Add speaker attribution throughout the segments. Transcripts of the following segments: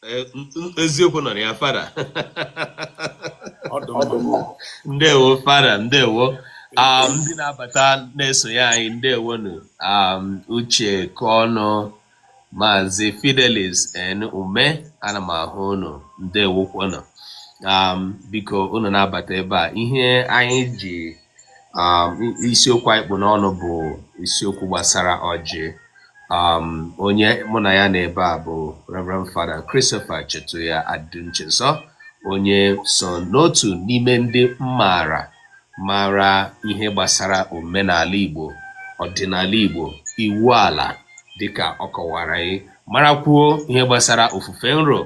Speaker 1: Eh, eziokwu nọ na ya
Speaker 2: fada ndewo fada ndewo
Speaker 1: um, ndị na-abata na-esonye anyị ndewonụ um, Uche Kọnụ maazị Fidelis N Ume ana m ahụ unu ndewokwanụ um, biko unu na-abata ebe a ihe anyị ji um, isiokwu anyị kpụ n'ọnụ bụ isiokwu gbasara ọjị um, onye mụ na ya nọ ebe a bụ Reverend Fada Christopher Chetuya Adinchezo onye so n'otu n'ime ndị maara mara ihe gbasara omenala Igbo ọdịnala Igbo iwu ala dịka ọ kọwara anyị marakwuo ihe gbasara ofufe nro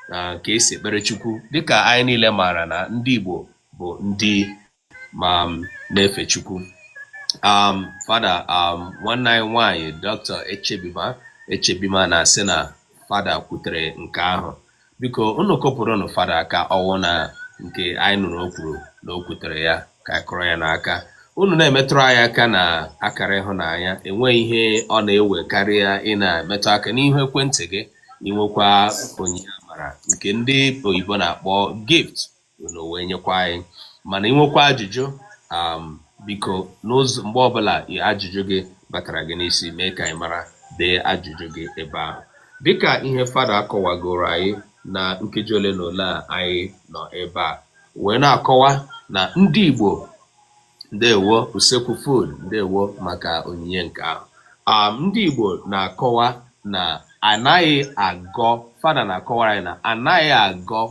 Speaker 1: na ka e si ekpere Chukwu dịka anyị niile maara na ndị Igbo bụ ndị ma na-efe Chukwu um, fada um, nwanne anyị nwanyị Dr. Echebima Echebima na-asị na fada kwutere nke ahụ biko unu kụpụrụnụ fada aka ọwụ na nke anyị nụrụ o kwuru na o kwutere ya ka a kụrụ ya n'aka unu na-emetụrụ anyị aka na akara ịhụnanya enweghị ihe ọ na-ewe karịa ị na-emetụ aka n'ihu ekwentị gị i nwekwaa onyinye amara nke ndị oyibo na-akpọ gift unu wee nyekwa anyị mana i nwekwaa ajụjụ um, biko n'ụzọ mgbe ọbụla ajụjụ gị batara gị n'isi mee ka anyị mara dee ajụjụ gị ebe ahụ dịka ihe fada akọwagoro anyị na nkeji ole na ole a anyị nọ ebe a wee na-akọwa na ndị Igbo ndewo Usekwu Food ndewo maka onyinye nke ahụ um, ndị Igbo na-akọwa na anaghị agọ fada na-akọwara anyị na anaghị agọ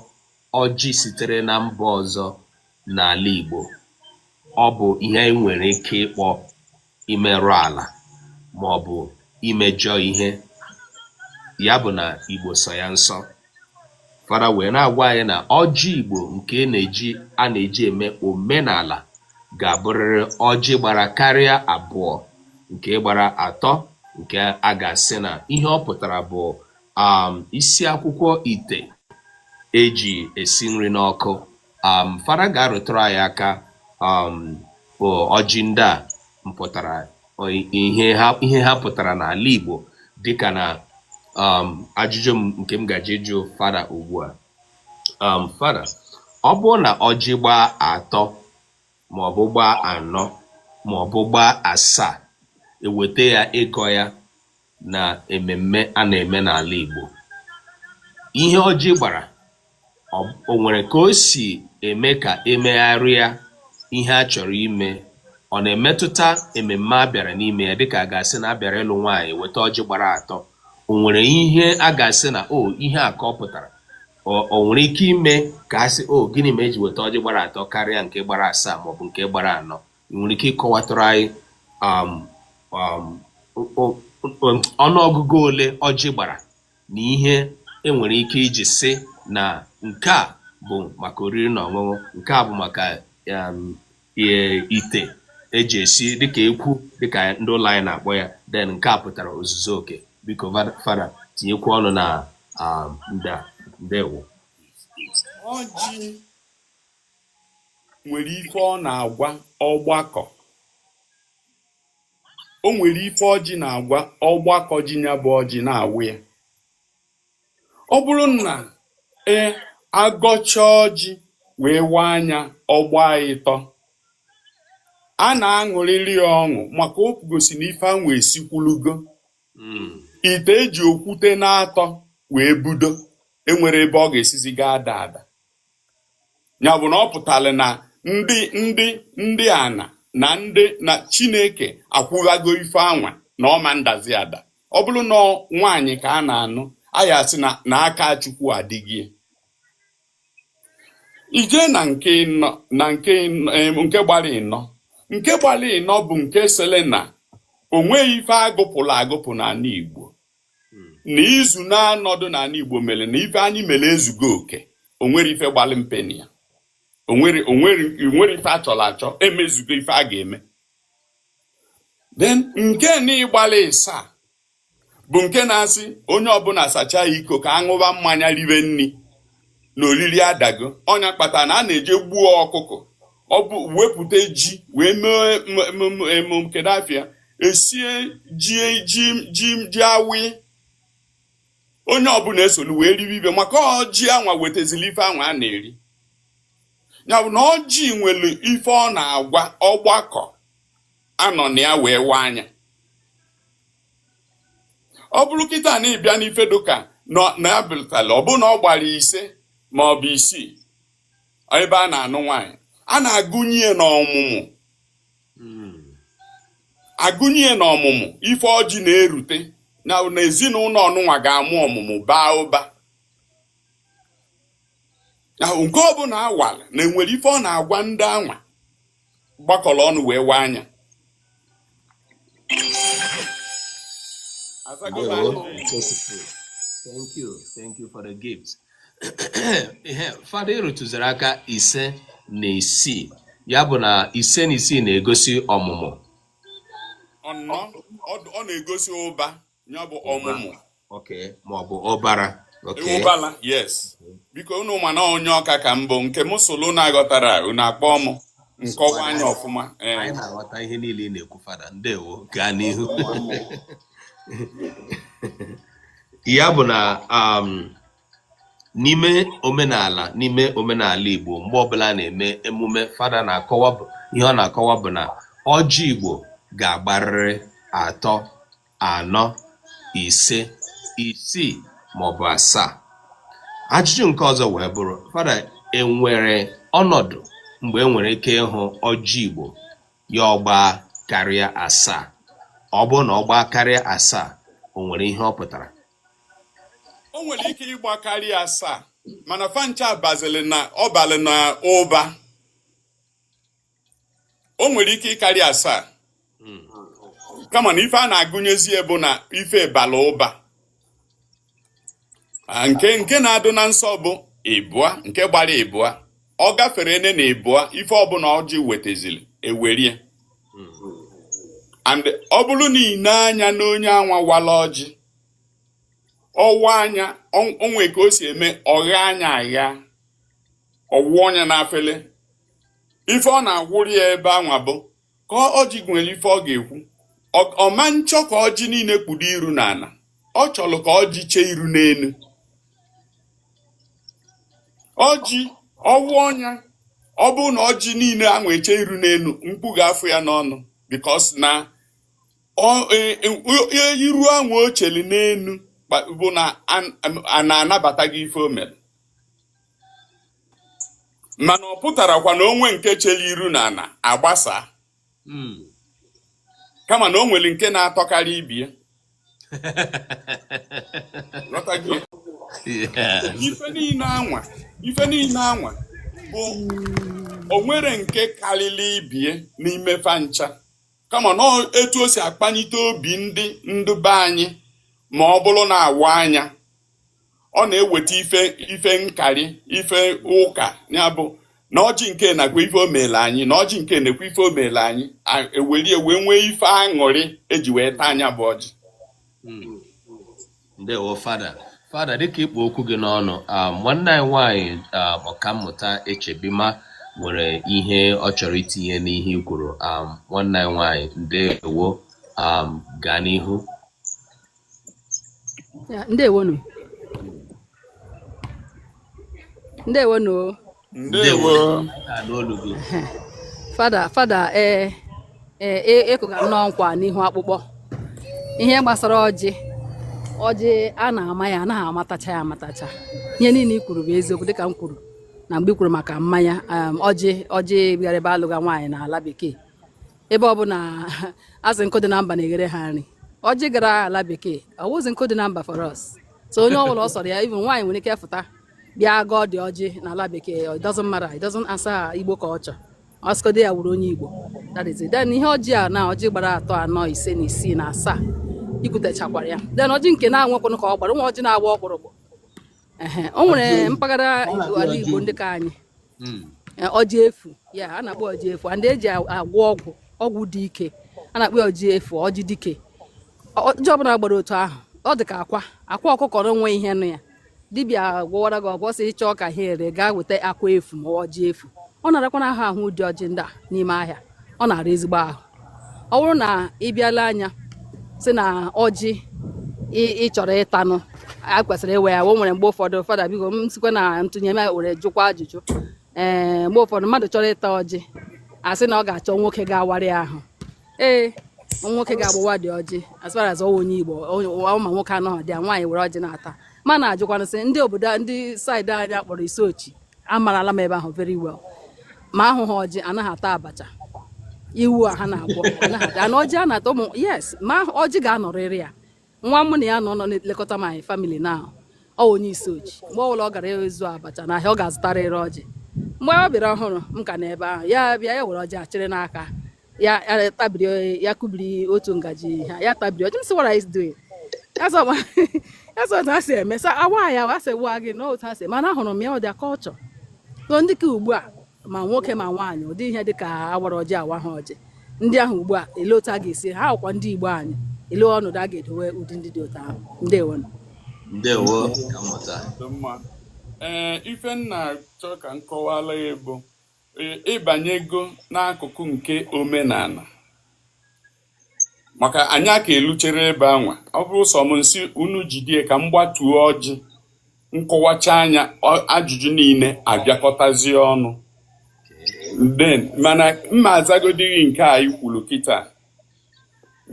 Speaker 1: ọjị sitere na mba ọzọ n'ala Igbo ọ bụ ihe anyị nwere ike ịkpọ imerụ ala ma ọ bụ imejọ ihe ya bụ na Igbo sọ ya nsọ fada wee na-agwa anyị na ọjị Igbo nke e na-eji a na-eji eme omenala ga-abụrịrị ọjị gbara karịa abụọ nke gbara atọ nke a ga-asị na ihe ọ pụtara bụ um, isi akwụkwa ite e ji esi nri n'ọkụ um, fada ga-arụtụrụ anyị aka um, ọjị ndị a mpụtara ihe ha pụtara n'ala Igbo dịka na um, ajụjụ m nke m gaje ịjụ fada ugbu a um, fada ọ bụrụ na ọjị gbaa atọ maọbụ gbaa anọ maọbụ gbaa asaa e weta ya ịgọ ya na ememme a na-eme n'ala Igbo ihe ọjị gbara o nwere ka o si eme ka emegharịa ihe a chọrọ ime ọ na-emetụta ememme a bịara n'ime ya dịka a ga-asị na a bịara ịlụ nwaanyị weta ọjị gbara atọ o nwere ihe a ga-asị na o ihe a ka ọ pụtara o nwere ike ime ka a sị o gịnị mere eji weta ọjị gbara atọ karịa nke gbara asaa maọbụ nke gbara anọ ị nwere ike ịkọwatụrụ anyị um, um, ọnụọgụgụ ole ọjị gbara na ihe enwere ike iji sị na nke a bụ maka oriri na ọṅụṅụ nke a bụ maka um, ite eji esi dịka ekwu dịka ndị ụlọ anyị na-akpọ ya then nke a pụtara ozuzu oke biko fada tinyekwu ọnụ na um, nda ndewo
Speaker 2: nwere ife ọ na-agwa ọgbakọ o nwere ife ọjị na-agwa ọgbakọ ji nya bụ ọjị na-awa ya ọ bụrụ na e agọcha ọjị wee waa nya ọ gbaa ịtọ a na-aṅụrịrị ya ọṅụ maka o gosi na ife anwa esikwulugo Mm. ite eji okwute na-atọ wee budo enwerọ ebe ọ ga-esizi gaa ada ada nya bụ na ọ pụtara na ndị ndị ndị ana na ndị na chineke akwụghago ife anwa na ọ ma ndazi ada ọ bụrụ na nwaanyị ka a na-anụ a ya-asị na na aka chukwu adịgo ya i jee na nke ịnọ na nke ịnọ- em, nke gbara ịnọ nke gbara ịnọ bụ nke sịrị na o nweghị ife agụpụrụ agụpụ n'ana igbo na izu naanọ dụ n'ana Igbo mere na ife anyị mere ezugo oke o nwerọ ife gbalị mpe na ya o nwerọ ife a chọrọ achọ emezugo ife a ga-eme then nke na gbalị ịsaa bụ nke na-asị onye ọbụla sachaa iko ka aṅụba mmanya ribe nni na oriri adago ọ nya kpatara na a na-eje gbuo ọkụkọ ọ bụ wepụta ji wee mee emem kedu afa ya esie ji ji ji ji awaị onye ọbụla esolu wee ribe ibe maka ọjị anwa wetazili ife anwa a na-eri ya bụ na ọjị nwere ife ọ na-agwa ọgbakọ a nọ na ya wee waa nya ọ bụrụ kịtaa na ị bịa n'ife dụka na ya bịrịtala ọ bụrụ na ọ gbara ise ma ọ bụ isii ebe a na-anụ nwaanyị a na-agụnye ya n'ọmụmụ agụnye ya n'ọmụmụ ife ọjị na-erute na ezinụnọ ọnụnwa ga-amụ ọmụmụ baa ụba nke ọbụla a wara na-enwere ife ọ na-agwa ndị anwa gbakọrọ ọnụ wee waa
Speaker 1: nya Thank you. Thank you for the gift. Fada ị rụtụziri aka ise na isii ya bụ na ise na isii na-egosi ọmụmụ
Speaker 2: ọ na-egosi ụba ya bụ ọmụmụ okay ma
Speaker 1: ọ bụ ụbara okay ụbala
Speaker 2: yes biko unu ma na onye Ọka ka m bụ nke m sụlụ unu aghọtarọ unu akpọ m m kọwaa nya ọfụma ee anyị na-aghọta ihe
Speaker 1: niile ị na-ekwu fada ndewo gaa n'ihu ya bụ na um, n'ime omenala n'ime omenala Igbo mgbe ọbụla a na-eme emume fada na-akọwa bụ ihe ọ na-akọwa bụ na ọjị Igbo ga-agbarịrị atọ anọ ise isii maọbụ asaa ajụjụ nke ọzọ wee bụrụ fada enwere ọnọdụ mgbe e nwere ike ịhụ ọjị igbo ya ọ gbaa karịa asaa ọ bụrụ na ọ gbaa karịa asaa o nwere ihe ọ
Speaker 2: pụtara o nwere ike ịgba karịa asaa mana fa ncha bazili na ọ balị na ụba o nwere ike ịkarị asaa hmm. kama na ife a na-agụnyezi bụ na ife bala ụba ah, nke nke na-adụ na nsọ bụ ịbụa nke gbara ịbụa ọ gafere ene na ịbụa ife ọbụla ọjị wetazili e werie and ọ bụrụ na i nee anya n'onye anwa wala ọjị ọ waa nya o nwe ka o si eme ọ ghaa nya agha ọ wụọ nya na afele ife ọ na-agwụrụ ya ebe anwa bụ ka ọjị nwere ife ọ ga-ekwu ọ ma nchọ ka ọjị niile kpudo iru n'ana ọ chọrọ ka ọjị chee iru n'enu ọjị ọ wụọ nya ọ bụrụ na ọjị niile anwa eche iru n'enu mkpu ga-afụ ya n'ọnụ because na e, e, e, iru anwa o cheli n'enu bụ na a na-anabata gị ife o mere mana ọ pụtarọkwa na o nwe nke chere iru na ana a gbasaa hmm. kama na o nwere nke na-atọkarị ibie ife niile anwa ife niile anwa bụ o nwere nke karịrị ibie n'ime fa ncha kama na etu o si akpanite obi ndị ndụ be anyị ma ọ bụrụ na a waa nya ọ na-eweta ife ife nkarị ife ụka ya bụ na ọjị nke nakwa ife o meelu anyị na ọjị nke nakwa ife o meelu anyị ewelie wee nwee ife aṅụrị eji wee taa nya bụ ọjị hmm.
Speaker 1: ndewo fada fada dịka ị kpụ okwu gị n'ọnụ ah, nwanne anyị nwaanyị ah, ọkammụta echebima nwere ihe ọ chọrọ itinye n'ihe i kwuru um, nwanne anyị nwanyị ndewo um, gaa n'ihu
Speaker 3: Ya, ndewonu ndewonu o. ndewo fada fada ee ee ị kụga nnọọ nkwa n'ihu akpụkpọ ihe gbasara ọjị ọjị a na-ama ya anaghị amatacha ya amatacha ihe niile i kwuru bụ eziokwu dịka m kwuru na mgbe i kwuru maka mmanya um, ọjị ọjị gara ebe a lụga nwaanyị n'ala bekee ebe ọ bụ na a sị nkụ dị na mba na-eghere ha nri ọjị gara ala bekee ọ wụzi nkụ dị na mba for us so onye ọbụla ọ sọrọ ya even nwaanyị nwere ike fụta bịa gọọdị ọjị na ala bekee it doesn't matter it doesn't answer igbo culture ọ sọkwadị ya wụrụ onye igbo that is it then ihe ọjị a na ọjị gbara atọ anọ ise na isii na asaa i kwutechakwara ya then ọjị nke na-enwekwanụ ka ọ gbara nwa ọjị na-agba ọkpụrụkpụ o nwere mpaghara ala Igbo ndị ka anyị hmm. eh, ọjị efu ya a na-akpọ ọjị efu and e ji agwọ ọgwụ ọgwụ dị ike a na-akpọ ọjị efu ọjị dike ọjị ọbụla gbara otu ahụ ọ dị ka akwa akwa ọkụkọ nwe ihe nọ ya dibịa gwọwara gị ọgwụ sị ị chọọ ka ha ere gaa weta akwa efu ma ọjị efu ọ na-arakwanụ ahụ ahụ ụdị ọjị ndị a n'ime ahịa ọ na-ara ezigbo ahụ ọ bụrụ na ị bịa lee anya sị na ọjị ị chọrọ ịtanụ a kwesịrị ịwa ya o nwere mgbe ụfọdụ fada biko m sikwa na ntụnye m were jụkwa ajụjụ ee mgbe ụfọdụ mmadụ chọrọ ịta ọjị a sị na ọ ga-achọ nwoke ga-awarị ya ee nwoke ga-agbawa dị ọjị as far as onye igbo ma nwoke anọghị dị ya nwaanyị were ọjị na-ata mana ajụkwanụ sị ndị obodo ndị side anyị a kpọrọ isuochi amarala m ebe ahụ very well ma ahụghị ọjị anaghị ata abacha iwu a ha na-agwọ anaghị ata na ọjị a na-ata ụmụ yes ma ọjị ga-anọrịrị ya nwa mụ na ya nọ nọ na-elekọta my family now ọ wụ onye isuochi mgbe ọbụla ọ gara azụ abacha na ahịa ọ ga-azụtarịrị ọjị mgbe ọ bịara ọhụrụ m ka nọ ebe ahụ ya bịa ya were ọjị a chịrị n'aka ya ya tabiri ya kubiri otu ngaji ha ya tabiri ọjị m sị what are you doing that's how that's how ha si eme sa awa ya wa sị wa gị na otu ha si mana ahụrụ m ya ọ dị culture so dịka ugbu a ma nwoke ma nwaanyị ụdị ihe dị ka awara ọjị awa ha ọjị ndị ahụ ugbu a ele otu a ga-esi ha ọkwa ndị igbo anyị ele ọnọdụ a ga-edowe ụdị ndị dị otu ahụ ndewo ndewo
Speaker 1: ọkammụta ee
Speaker 2: ife m na-achọ ka m kọwala ya bụ ịbanyego n'akụkụ nke omenala maka anyị aka eluchere ebe anwa ọ bụrụ sọ m m sị unu jidie ka m gbatuo ọjị m kọwachaa nya ajụjụ niile abịakọtazie ọnụ then mana m ma-azagodị gị nke a i kwuru kịta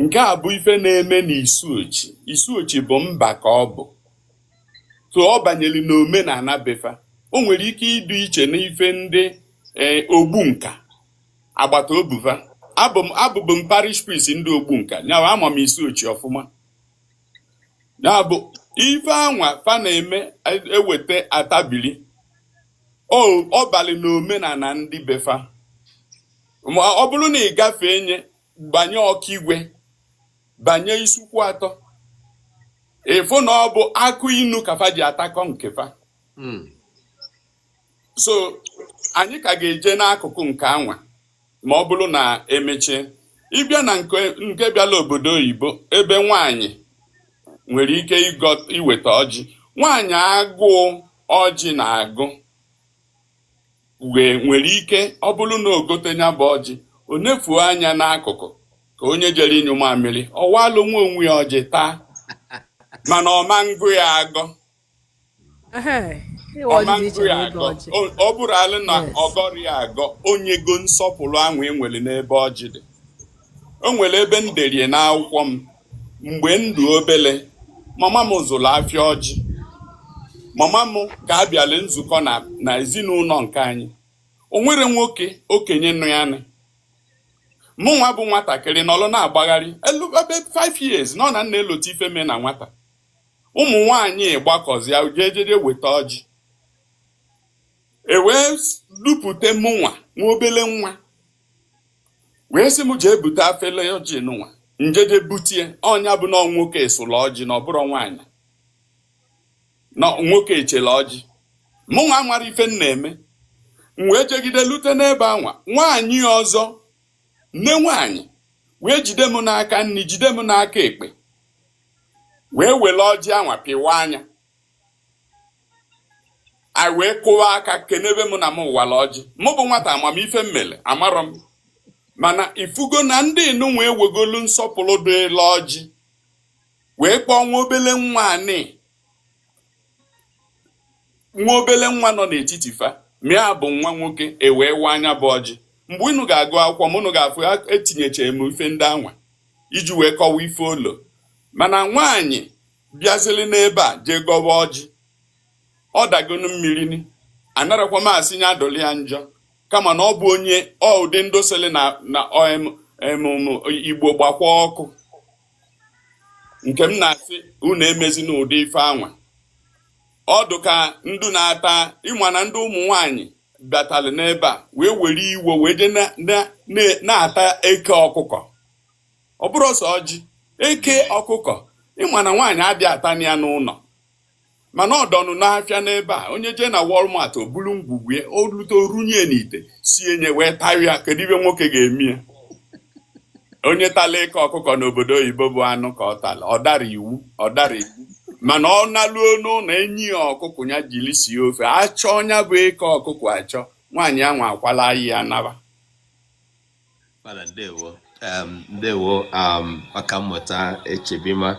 Speaker 2: nke a bụ ife na-eme na isuochi isuochi bụ mba ka ọ bụ so ọ banyere na omenala befa o nwere ike ịdị iche n'ife ndị eh, ogbunka agbata obi fa abụbụ m parish priest ndị ogbunka nya bụ ama m isuochi ọfụma ya bụ ife anwa fa na-eme e weta a tabili ọ balị na omenala ndị befa ọ bụrụ na ị gafee nye banye okigwe banye isuikwuatọ ị fụ na ọ bụ akụ inu ka fa ji atakọ nke fa hmm. so anyị ka ga-eje n'akụkụ nke anwa ma ọ bụrụ na e mechie ị bịa na nke bịala obodo oyibo ebe nwanyị nwere ike iweta ọjị nwaanyị agụụ ọjị na-agụ nwere ike ọ bụrụ na o gote nya bụ ọjị o nefuo anya n'akụkụ ka onye jere ịnyụ mamịrị ọ waalụ nwa onwe ya ọjị taa mana ọ ma-agọ ya agọ ọ ma-agọ ya agọ ọ bụrụala na ọ gọrọ ya agọ o nyego nsọpụrụ ahụ e nwere n'ebe ọjị dị o nwere ebe m derie n'akwụkwọ m mgbe m dụ obele mama m zụrụ afịa ọjị mama m ka a bịala nzukọ na na ezinụlọ nke anyị o nwere nwoke okenye nọ ya nụ mụ nwa bụ nwatakịrị nọrọ na-agbagharị elu ebe 5 years nọ na m na-elota ife mee na nwata ụmụ nwanyị gbakọzịa jee jeje weta ọjị e wee dupụta mụnwa nwa obele nwa wee sị m jee bute afele ọjị nụnwa m jeje butie ọ nya bụ na nwoke esụla ọjị na ọ bụrọ nwaanyị na nwoke echela ọjị mụ nwa amara ife m na-eme m wee jegide lute n'ebe anwa nwaanyị ọzọ nne nwaanyị wee jide m n'aka nni jide m n'aka ekpe wee wele ọjị anwa pịwaa nya a wee kụwa aka kenebe m na mụ awala ọjị mụ bụ nwata ama m ife m mere amarọ m mana ị fụgo na ndị nụnwa ewegolu nsọpụrụ dịla ọjị wee kpọọ nwa obele nwa anị nwa obele nwa nọ n'etiti fa ma ya bụ nwa nwoke e wee waa nya bụ ọjị mgbe unu ga-agụ akwụkwọ m unu ga-afụ etinyecha m ife ndị anwa iji wee kọwa ife olo mana nwaanyị bịazili n'ebe a jee gọwa ọjị ọ dagonu mmiri ni anarọkwa m asị nya adụlị ya njọ kama na ọ bụ onye ọ ụdị ndị sịlị na na om- em, um, Igbo gbakwa ọkụ nke m na-asị unu emezina ụdị ife anwa ọ dụ ka ndụ na-ata ị ma na ndị ụmụ nwanyị bịatalị n'ebe a wee were iwe wee je na- na- na- na-ata eke ọkụkọ ọ bụrọ sọ ọjị eke ọkụkọ ị ma na nwaanyị adị atanị ya n'ụnọ mana ọ dụnụ n'afịa n'ebe a onye jee na Walmart o bulu ngwugwu ya o lute o runye n'ite sie nya wee tarịa kedu ife nwoke ga-eme ya onye tala eke ọkụkọ n'obodo oyibo bụ anụ ka ọ tala ọ darọ iwu ọ darọ iwu mana ọ naluo n'ụnọ e nye ya ọkụkọ ya jiri sie ofe a chọọ nya bụ eke ọkụkọ achọ nwaanyị anwa akwala ya naba
Speaker 1: Fada ndewo um, ndewo um, ọkammụta Echebima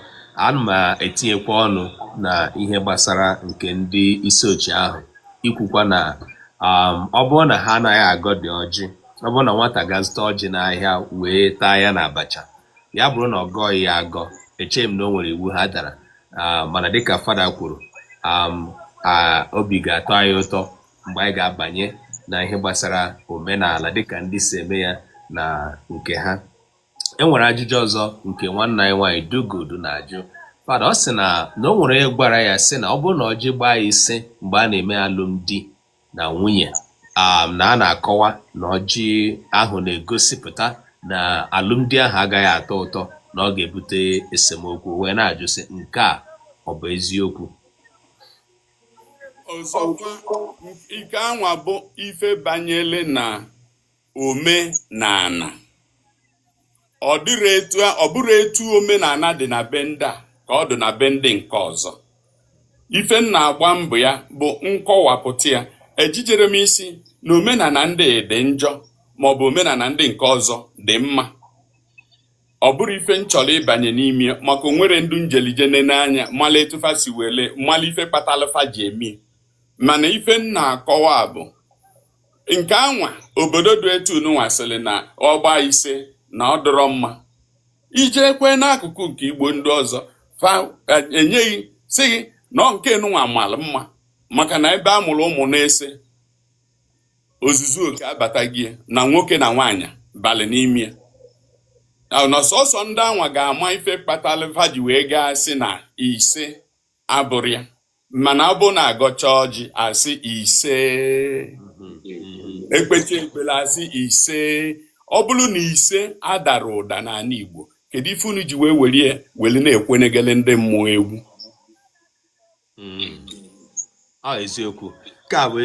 Speaker 1: ana m etinyekwa ọnụ na ihe gbasara nke ndị Isuochi ahụ ikwukwa na um, ọ bụrụ na ha anaghị agọdị ọjị ọ bụrụ na nwata gaa zụta ọjị n'ahịa wee taa ya na abacha ya bụrụ na ọ gọghị ya agọ echeghị m na o nwere iwu ha dara ah, mana dịka fada kwuru obi ga-atọ anyị ụtọ mgbe anyị ga-abanye na ihe gbasara omenala dịka ndị si eme ya na nke ha e nwere ajụjụ ọzọ nke nwanne anyị nwaanyị Dugodu na-ajụ fada ọ sị na na o nwere onye gwara ya sị na ọ bụrụ na ọjị gbaa ya ise mgbe a na-eme alụmdi na nwunye um, na a na-akọwa na ọjị ahụ na-egosipụta na alụmdi ahụ agaghị atọ ụtọ na ọ ga-ebute esemokwu wee na-ajụ sị nke a ọ bụ eziokwu
Speaker 2: ọzọkwa nke anwa bụ ife banyele na omenala ọ dịrọ etu a- ọ bụrọ etu omenala dị na be ndị a ka ọ dị na be ndị nke ọzọ ife m na-agba mbọ ya bụ nkọwapụta ya ejijerọ m ịsị na omenala ndị dị njọ maọbụ omenala ndị nke ọzọ dị mma ọ bụrọ ife m chọrọ ịbanye n'ime ya maka o nwerọ ndụ m jeli je nene anya mala etu fa si wele mala ife kpatalụ fa ji eme ya mana ife m na-akọwa bụ nke anwa obodo dị etu nụnwa sịrị na ọ gbaa ise na ọ dịrọ mma i jekwa n'akụkụ nke Igbo ndị ọzọ fa e, enye gị sị gị na nke nụnwa mara mma maka na ebe a mụrụ ụmụ n'ise ozuzu oke abata gị na nwoke na nwaanyị balị n'ime ya ahụ na sọsọ ndị anwa ga-ama ife kpatara fa ji wee gaa sị na ise abụrọ ya mana ọ bụ na agọcha ọjị asị ise ekpecha ekpere asị ise ọ bụrụ na ise adarọ ụda n'ala Igbo kedu ife unu ji wee were ya were na-ekwenegele ndị mmụọ egwu
Speaker 1: hmm. ọ eziokwu ka bụ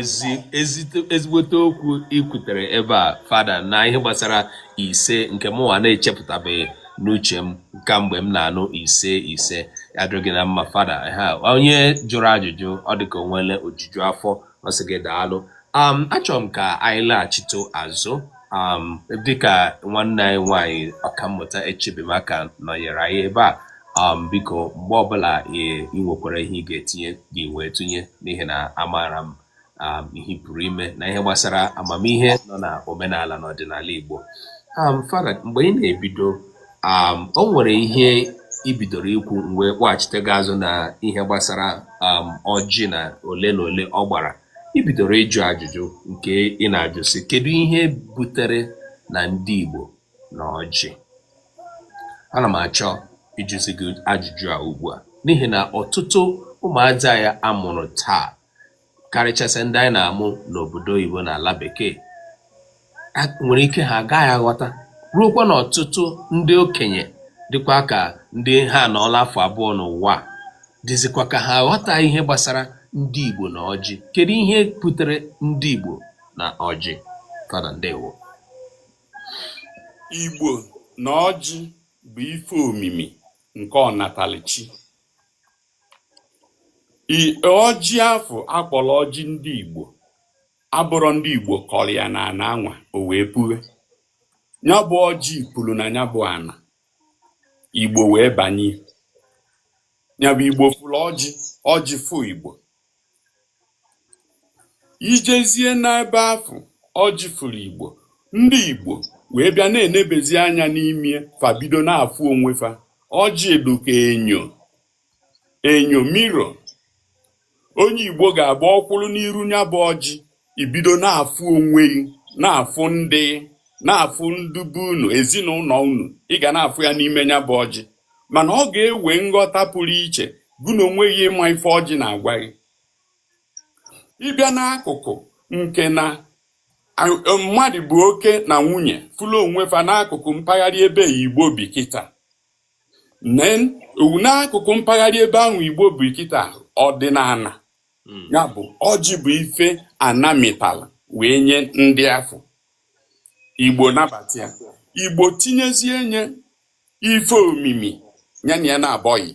Speaker 1: ezigbote okwu i kwutere ebe a fada na ihe gbasara ise nke mụnwa na-echepụtabeghị n'uche m kamgbe m na-anụ ise ise adịghị na mma fada ha onye jụrụ ajụjụ ọ dịka o nwele ojuju afọ ọ sị gị daalụ um, achọrọ m ka anyị laghachite azụ um, dịka nwanne anyị nwanyị ọkammụta Echebima ka nọnyere anyị ebe a um, biko mgbe ọbụla ị nwekwara ihe ị ga-etinye gị wee tụnye n'ihi na amaara m um, ihe ị pụrụ ime na ihe gbasara amamihe nọ na omenala na ọdịnala Igbo um, Fada mgbe ị na-ebido um, o nwere ihe i bidoro ikwu m wee kpọghachite gị azụ na ihe gbasara um, ọjị na ole na ole ọ gbara i bidoro ịjụ ajụjụ nke ị na-ajụ sị kedu ihe butere na ndị Igbo na ọjị ana m achọ ịjụzi gị ajụjụ a ugbu a n'ihi na ọtụtụ ụmụazị anyị a mụrụ taa karịchasịa ndị anyị na-amụ n'obodo oyibo na ala bekee nwere ike ha agaghị aghọta ruokwa na ọtụtụ ndị okenye dịkwa ka ndị ha anọọla afọ abụọ n'ụwa dịzikwa ka ha aghọta ihe gbasara ndị Igbo na ọjị kedu ihe butere ndị Igbo na ọjị fada ndewo
Speaker 2: Igbo na ọjị bụ ife omimi nke ọnatalichi ọjị afụ akpọrọ ọjị ndị Igbo abụrọ ndị Igbo kọrọ ya na ana anwa o wee puhe ya bụ ọjị puru na ya bụ ana Igbo wee banye ya bụ Igbo fụrụ ọjị ọjị fụ Igbo i jezie n'ebe afụ ọjị fụrụ igbo ndị igbo wee bịa na-enebezi anya n'ime fa bido na-afụ onwe fa ọjị dị ka enyo enyo mirror onye igbo ga-abụ ọ kwụrụ n'iru ya bụ ọjị i bido na-afụ onwe gị na-afụ ndị na-afụ ndị be unu ezinụnọ unu ị ga na-afụ ya n'ime ya bụ ọjị mana ọ ga-ewe nghọta pụrụ iche gụ na onwe gị ịma ife ọjị na-agwa gị ị bịa n'akụkụ nke na mmadụ bụ oke na nwunye fụlụ onwe fa n'akụkụ mpaghara ebe igbo bi kịta n'akụkụ mpaghara ebe ahụ igbo bi kịta ọdịnana hmm. nya bụ ọjị bụ ife ana mịtala wee nye ndị afọ igbo nabata ya igbo tinyezie nye ife omimi ya na ya na-abọghị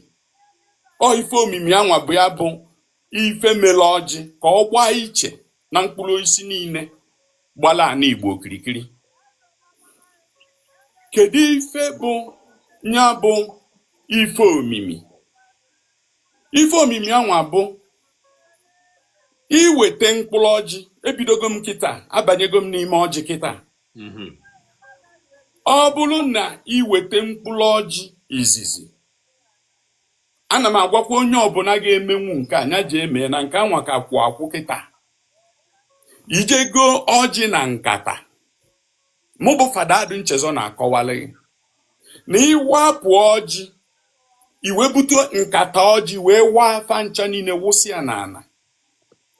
Speaker 2: ọ ife omimi anwa bụ ya bụ ife mere ọjị ka ọ gbaa iche na mkpụrụ osisi niile gbala ana igbo okirikiri kedu ife bụ nya bụ ife omimi ife omimi anwa bụ i weta mkpụrụ ọjị ebidogo m kịta abanyego m n'ime ọjị kịta mhm. ọ bụrụ na i weta mkpụrụ ọjị izizi ana m agwakwa onye ọbụla ga-emenwu nke a nya jee mee na nke anwa ka kwụ akwụ kịta i je goo ọjị na nkata mụ bụ fada adụ nchezọ na-akọwalụ gị na ị wapụ ọjị i wee bute nkata ọjị wee waa fa ncha niile wụsị ya n'ana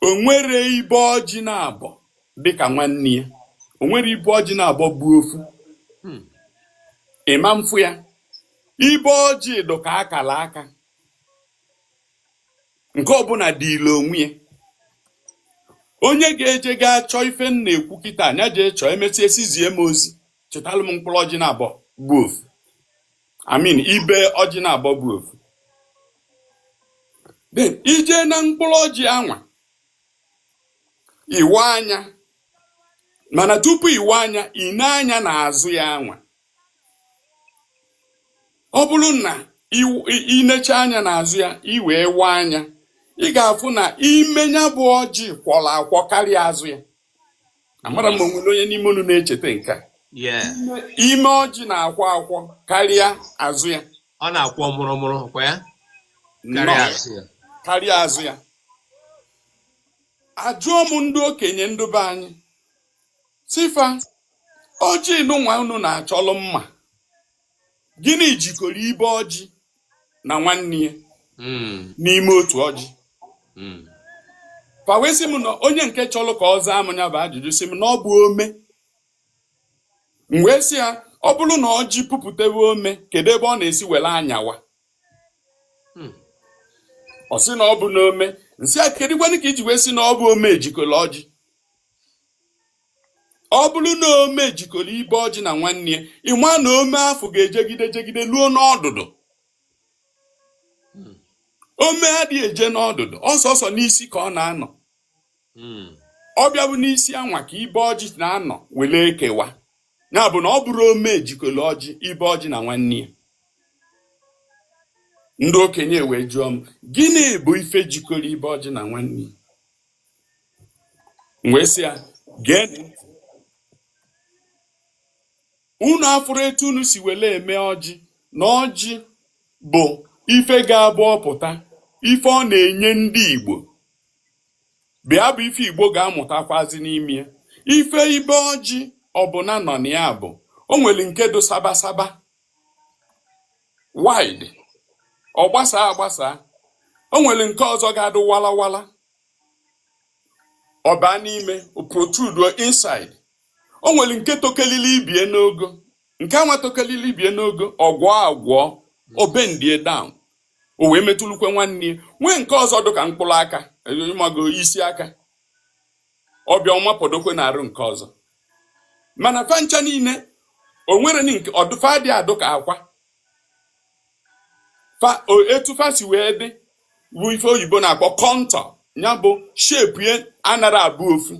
Speaker 2: onwerọ ibe ọjị naabọ dịka nwanne ya onwerọ ibe ọjị naabọ bụ ofu hmm. ị ma mfụ ya ibe ọjị dụ ka akala aka nke ọbụla dịịlị onwe ya onye ga-eje gaa chọọ ife m na-ekwu kịta nya jee chọọ emesie sizie m ozi chọtalụ m mkpụrụ ọjị naabọ bụ ofu I mean ibe ọjị naabọ bụ ofu then i je na mkpụrụ ọjị anwa ị waa nya mana tupu ị waa nya i nee anya n'azụ ya anwa ọ bụrụ na i necha anya n'azụ ya i wee waa nya ị ga-afụ na ime nya bụ ọjị kwọrọ akwọ karịa azụ ya amarọ m ma onwere onye n'ime unu na-echeta nke a ime ọjị na-akwọ akwọ karịa azụ ya ọ na-akwọ
Speaker 1: mụrụmụrụ kwa ya karịa azụ ya ajụọ m ndị okenye ndụ be anyị Sị fa, ọjị nụnwa unu na-achọlụ mma. Gịnị jikọrọ ibe ọjị na nwanne ya Mm, n'ime otu ọjị? mm, Fa wee sị m na onye nke chọrọ ka ọ zaa m nya bụ ajụjụ sị m na ọ bụ ome. M wee sị ya, ọ bụrụ na ọjị puputewe ome, kedu ebe ọ na-esi were anyawa? mm. Ọ sị na ọ bụ n'ome. M sị a kedukwanụ ka i ji wee sị na ọ bụ ome jikọrọ ọjị? ọ bụrụ na ome jikọrọ ibe ọjị na nwanne ya ị ma na ome afụ ga-ejegide jegide luo n'ọdụdụ hmm. ome adịghị eje n'ọdụdụ ọ sọsọ n'isi ka ọ na-anọ hmm. ọ bịa bụ n'isi anwa ka ibe ọjị na-anọ were ekewa ya bụ na ọ bụrọ ome jikọrọ ọjị ibe ọjị na nwanne ya ndị okenye wee jụọ m gịnị bụ ife jikọrọ ibe ọjị na nwanne ya wee sị ya gee ntị unu afụrụ etu unu si wele eme ọjị na ọjị bụ ife ga-abụ ọ pụta ife ọ na-enye ndị Igbo bịa bụ ife Igbo ga-amụtakwazi n'ime ya ife ibe ọjị ọbụna nọ na ya bụ o nwere nke dụ sabasaba wide ọ gbasaa agbasa o nwere nke ọzọ ga-adụ walawala ọ baa n'ime o protrude inside o nwere nke tokelili ibie n'ogo nke anwa tokelili ibie n'ogo ọ gwọọ agwọ o bendie down o wee metụlukwe nwanne ya nwee nke ọzọ dị ka mkpụrụ aka ị mago isi aka ọ bịa ọ mapọdokwe n'arụ nke ọzọ mana fa ncha niile o nwere ni nke ọdụ fa dị adụ ka akwa etu fa si wee dị bụ ife oyibo na-akpọ contour ya bụ shape ya anara abụ ofu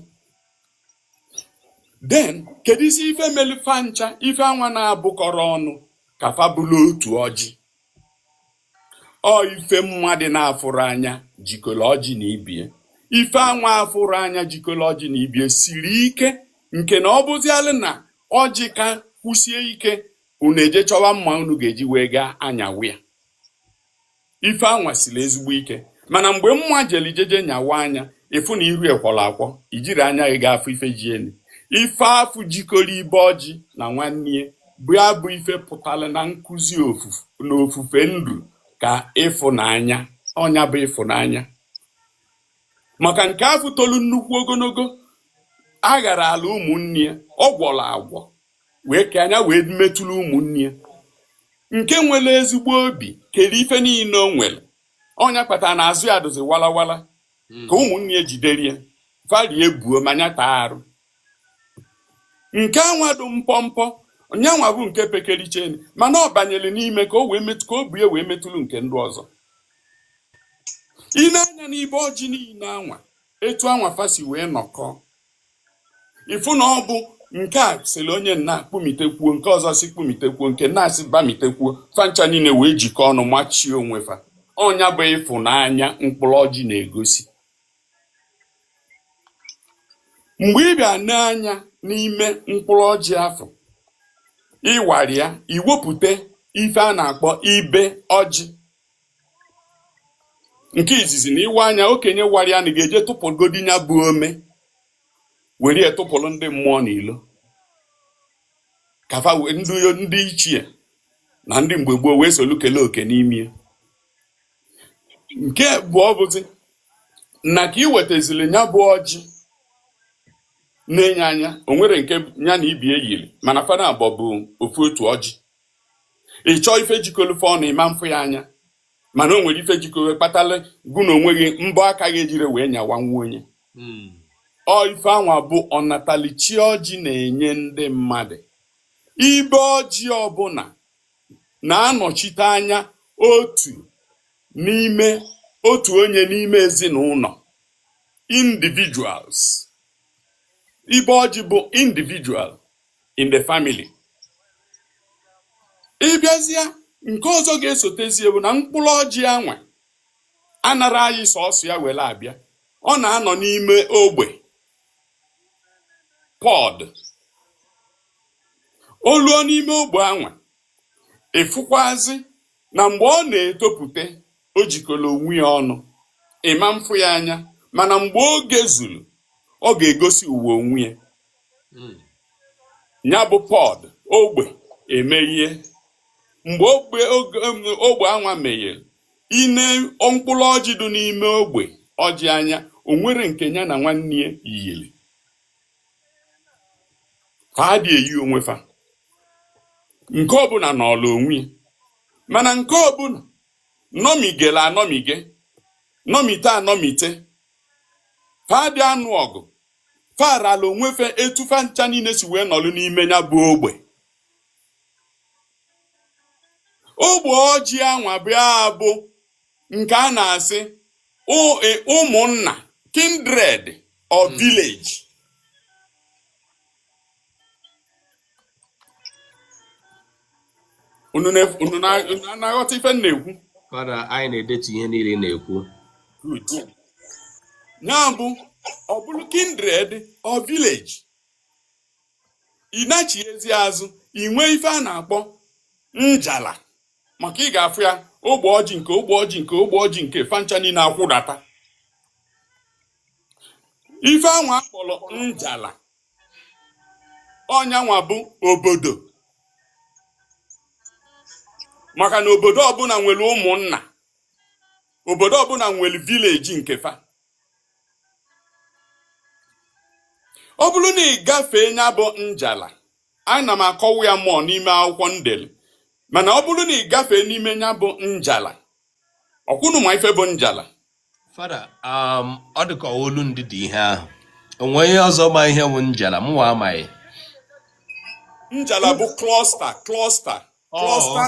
Speaker 1: then kedu isi ife melu fa ncha ife anwa na-abụkọrọ ọnụ ka fa bụrụ otu ọjị ọ ife mmadụ na-afụrọ anya jikọrọ ọjị na ibie ife anwa afụrọ anya jikọrọ ọjị na ibie siri ike nke na ọ bụzialụ na ọjị kaa kwụsie ike unu eje chọwa mma unu ga-eji wee gaa anyawa ya ife anwa siri ezigbo ike mana mgbe mma jeli jeje nyawaa nya ị fụ na iru e kwọrọ akwọ i jiri anya gị ga-afụ ife ji elu ife afụ jikọrọ ibe ọjị na nwanne ya bụ ya bụ ife pụtara na nkụzi na ofufe nru ka ịfụnanya ọ nya bụ ịfụnanya maka nke afụ tolu nnukwu ogologo agharala ụmụnne ya ọ gwọrọ agwọ wee ka nya wee metụrụ ụmụnne ya nke nwere ezigbo obi kere ife niile o nwere ọ nya kpatara na azụ ya dụzi walawala hmm. ka ụmụnne ya jidere ya fa rie buo ma nya taa arụ nke anwa dụ mpọmpọ nya nwa bụ nke pekericheni mana ọ banyere n'ime ka o wee metụ ka o bu ya wee metụrụ nke ndị ọzọ i nee anya n'ibe ọjị niile anwa etu anwa fa si wee nọkọọ ị fụ na ọ bụ nke a sịrị onye nna kpumitekwuo nke ọzọ si kpumitekwuo nke nna si bamitekwuo fa ncha niile wee jikọ ọnụ machie onwe fa ọ
Speaker 2: nya bụ ịfụnanya mkpụrụ ọjị na-egosi mgbe ị bịa nee anya n'ime mkpụrụ ọjị afụ ị wara ya i wepụta ife a na-akpọ ibe ọjị nke izizi na ị waa nya okenye wara ya na ga-eje tụpụgodi ya bụ ome were ya tụpụrụ ndị mmụọ n'ilo ka fa wee- ndị ndị ichie na ndị mgbe gboo wee solu kelee oke n'ime ya. nke bụ ọ bụzi na ka i wetazili ya bụ ọjị na-ene ya anya o nwere nke ya na ibe ya yiri mana fa naabọ bụ ofu otu ọjị ị chọọ ife jikọlụ fa ọnụ ị ma mfụ ya anya mana o nwere ife jikọlụ kpatara gụ na onwe gị mbọ aka gị ejire wee nyawa nwa onye hmm. ọ ife anwa bụ ọnatalụchi ọjị na-enye ndị mmadụ ibe ọjị ọbụla na-anọchite anya otu n'ime otu onye n'ime ezinụlọ individuals ibe ọjị bụ individual in the family ị bịazịa nke ọzọ ga-esotezie bụ na mkpụrụ ọjị anwa anara anyị sọsọ ya were abịa ọ na-anọ n'ime ogbe pọd o luo n'ime ogbe anwa ị fụkwazị na mgbe ọ na-etopụta o jikọrọ onwe ya ọnụ ị ma mfụ ya anya mana mgbe oge zuru ọ ga-egosi ụwa onwe ya ya bụ pọd ogbe emeghe mgbe ogbe oge- em, ogbe anwa meghere i nee mkpụrụ ọjị dị n'ime ogbe ọjị anya o nwere nke ya na nwanne ya yiri fa adị eyi onwe fa nke ọbụla nọlụ onwe ya mana nke ọbụla nọmigere anọmige nọmite anọmite fa adị anụ ọgụ fa rala onwe fa etu fa ncha niile si wee nọlụ n'ime ya bụ ogbe ogbe ọjị anwa bịa abụ nke a na-asị ụ- e- ụmụnna kindred or village unu na-aghọta ife m na-ekwu fada
Speaker 1: anyị na-edetu ihe niile na-ekwu
Speaker 2: ya bụ ọ bụrụ kindred or village ị nachiezie azụ ị nwee ife a na-akpọ njala maka ị ga-afụ ya ogbe ọjị nke ogbe ọjị nke ogbe ọjị nke fa ncha niile akwụdata ife anwa a kpọrọ njala ọ nyanwa bụ obodo maka na obodo ọbụla nwere ụmụnna obodo ọbụla nwere village nke fa ọ bụrụ na ị gafee nya bụ njala ana m akọwa ya more n'ime akwụkwọ m delu mana ọ bụrụ na ị gafee n'ime nya bụ njala ọkwa unu ma ife bụ njala
Speaker 1: fada um, ọ dị ka olu ndị dị ihe ahụ o nwee ihe ọzọ ma ihe bụ njala mụwa amaghị njala
Speaker 2: bụ cluster cluster cluster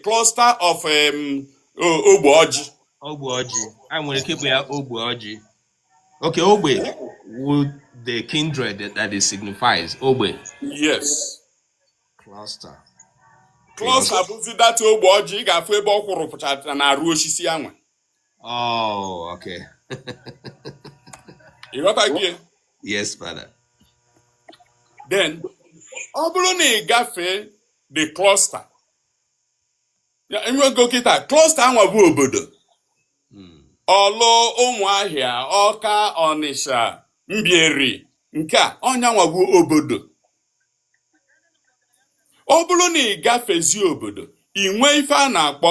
Speaker 2: cluster of um, ogbe ọjị ogbe ọjị
Speaker 1: e nwere ike ịkpọ ya ogbe ọjị okay ogbe with the kindred that it signifies ogbe
Speaker 2: yes cluster cluster bụzi that ogbe ọjị ị ga-afụ ebe ọ kwụrụ pụchara na arụ osisi anwa
Speaker 1: Oh,
Speaker 2: okay. you got idea? Yes, father. Then, ọ bụrụ na ị gafee the cluster e nwego kịta cluster anwa bụ obodo hmm. ọlụ ụmụahịa ọka ọnịsha mbieri nke a ọ nyanwa bụ obodo ọ bụrụ na ị gafezi obodo ị nwee ife a na-akpọ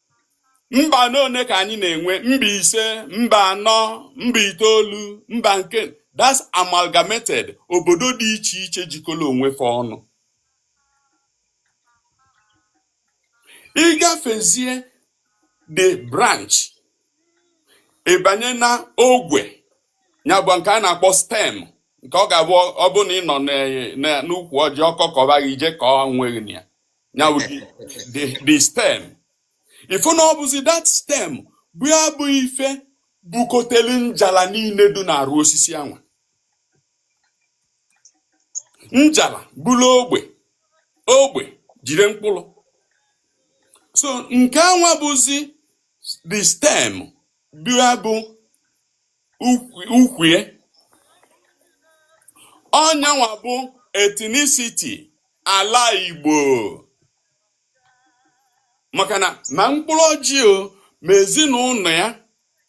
Speaker 2: mba n'one ka anyị na-enwe mba ise mba anọ mba itoolu mba nke that's amalgamated obodo dị iche iche jikọrọ onwe fa ọnụ ị gafezie the branch ị banye na ogwe nya bụ nke a na-akpọ stem nke ọ ga-abụ ọ bụ na ị nọ n'ukwu ọjị ọkọkọba gị ije ka ọ nweghị na ya nya bụ the the the stem ị fụ na ọ bụzi that stem bụ ya bụ ife bukotelu njala niile dị n'arụ osisi anwa njala buru ogbe ogbe jide mkpụrụ so nke anwa bụzi the stem bụ ya bụ ukwu ya ọ nya nwa bụ ethnicity ala Igbo maka na ma mkpụrụ ọjị o ma ezinụlọ ya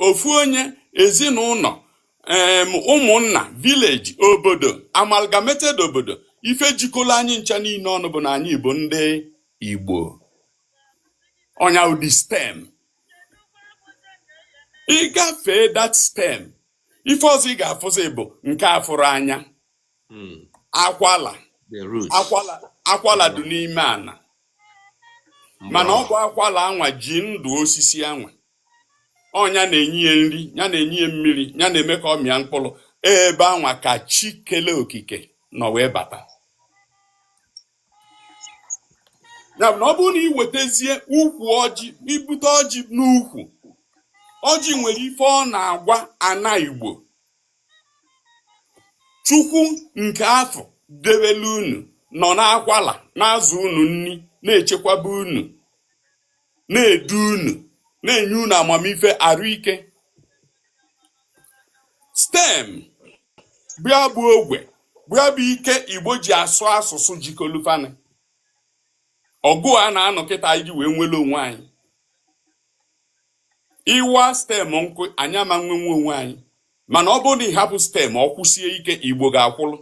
Speaker 2: ofu onye ezinụlọ ụmụnna village obodo amalgamated obodo ife jikọrọ anyị ncha niile ọnụ bụ na anyị bụ ndị Igbo ọ nya bụ the stem ị gafee that stem ife ọzọ ị ga-afụzi bụ nke a fụrọ anya hmm. akwala akwala dị n'ime ana mana ọ bụ akwala anwa ji ndụ osisi anwa ọ nya na-enye ya nri nya na-enye ya mmiri nya na-eme ka ọ mịa mkpụrụ ebe anwa ka chi kele okike nọ wee bata ya bụ na ọ bụrụ na ị wetazie ukwu ọjị i bute ọjị n'ukwu ọjị nwere ife ọ na-agwa ana igbo chukwu nke afụ debele unu nọ n'akwala na-azụ unu nri na-echekwaba unu na-edu unu na-enye unu amamife arụ ike stem bịa bụ ogwe bịa bụ ike igbo ji asụ asụsụ jikọlụ fa ọnụ ọgụ a na-anụ kịta iji wee nwere onwe anyị ị waa stem nkụ anyị ama nwe onwe anyị mana ọ bụrụ na ị hapụ stem ọ kwụsie ike igbo ga-akwụlụ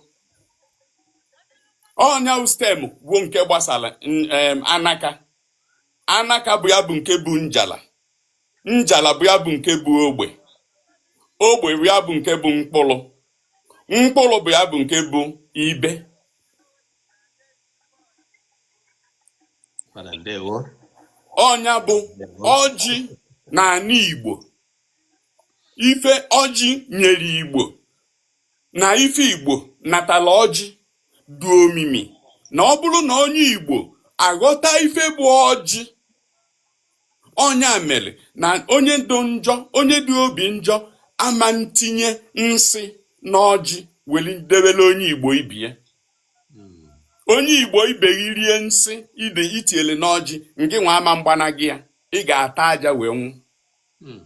Speaker 2: ọ nya bụ stem bụ nke gbasara anaka anaka bụ ya bụ nke bụ njala njala bụ ya bụ nke bụ ogbe ogbe bụ ya bụ nke bụ mkpụrụ mkpụrụ bụ ya bụ nke bụ ibe ọ nya bụ ọjị n'ana Igbo ife ọjị nyere Igbo na ife Igbo natala ọjị dị omimi na ọ bụrụ na onye Igbo aghọta ife bụ ọjị ọ nya mere na onye dị njọ onye dị obi njọ ama ntinye nsị n'ọjị weli debele onye Igbo ibe ya onye Igbo ibe gị rie nsị i tiele n'ọjị ngị nwa ama mgbanaghị ya ị ga-ata aja wee nwụ hmm.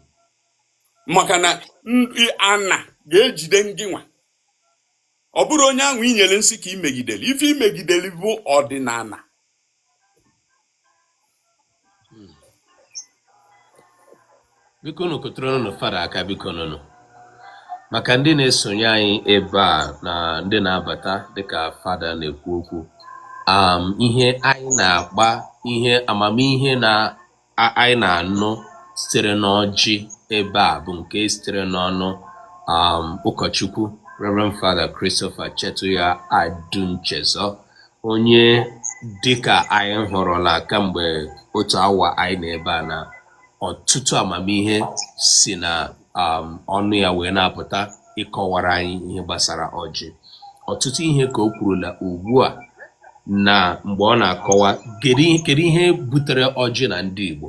Speaker 2: maka na ana ga-ejide ngị nwa ọ bụrọ onye ahụ i nyere nsị ka i megidere ife i megidere bụ ọdịnana hmm.
Speaker 1: biko nụ kụtụrụ nụ fada aka biko nụnụ maka ndị na-esonye anyị ebe a na ndị na-abata dịka fada na-ekwu okwu um, ihe anyị na-akpa ihe amamihe na anyị na-anụ sitere n'ọjị ebe a bụ nke sitere n'ọnụ um, ụkọchukwu Reverend Father Christopher Chetuya Adunchezo onye dịka anyị hụrụla kamgbe otu awa anyị na ebe a na ọtụtụ amamihe si na um, ọnụ ya wee na-apụta ịkọwara anyị ihe gbasara ọjị ọtụtụ ihe ka o kwurula ugbu a na mgbe ọ na-akọwa kedu ihe butere ọjị na ndị Igbo